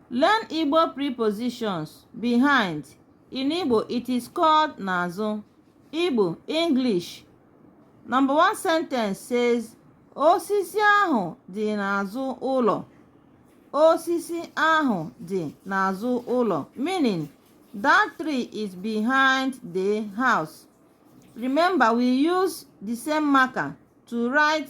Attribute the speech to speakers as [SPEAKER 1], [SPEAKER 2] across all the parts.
[SPEAKER 1] Learn Igbo prepositions behind. In Igbo, it is called n'azụ. Igbo, English. Number one sentence says, Osisi ahụ dị n'azụ ụlọ. Osisi ahụ dị n'azụ ụlọ. Meaning, that tree is behind the house. Remember, we use the same marker to write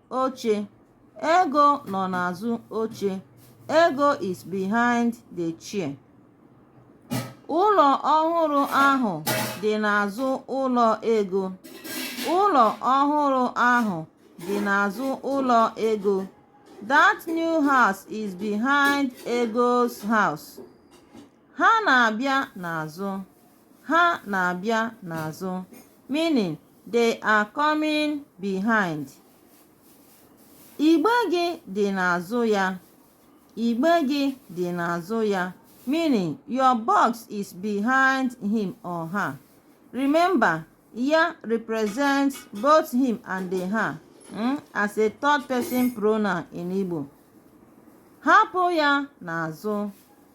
[SPEAKER 1] oche Ego nọ n'azụ oche Ego is behind the chair ụlọ ọhụrụ ahụ dị n'azụ ụlọ Ego ụlọ ọhụrụ ahụ dị n'azụ ụlọ Ego that new house is behind Ego's house Ha na-abịa n'azụ. Ha na-abịa n'azụ. Meaning, they are coming behind. Igbe gị dị n'azụ ya. Igbe gị dị n'azụ ya. Meaning, your box is behind him or her. Remember, ya represents both him and the her mm, as a third person pronoun in Igbo. Hapụ ya n'azụ.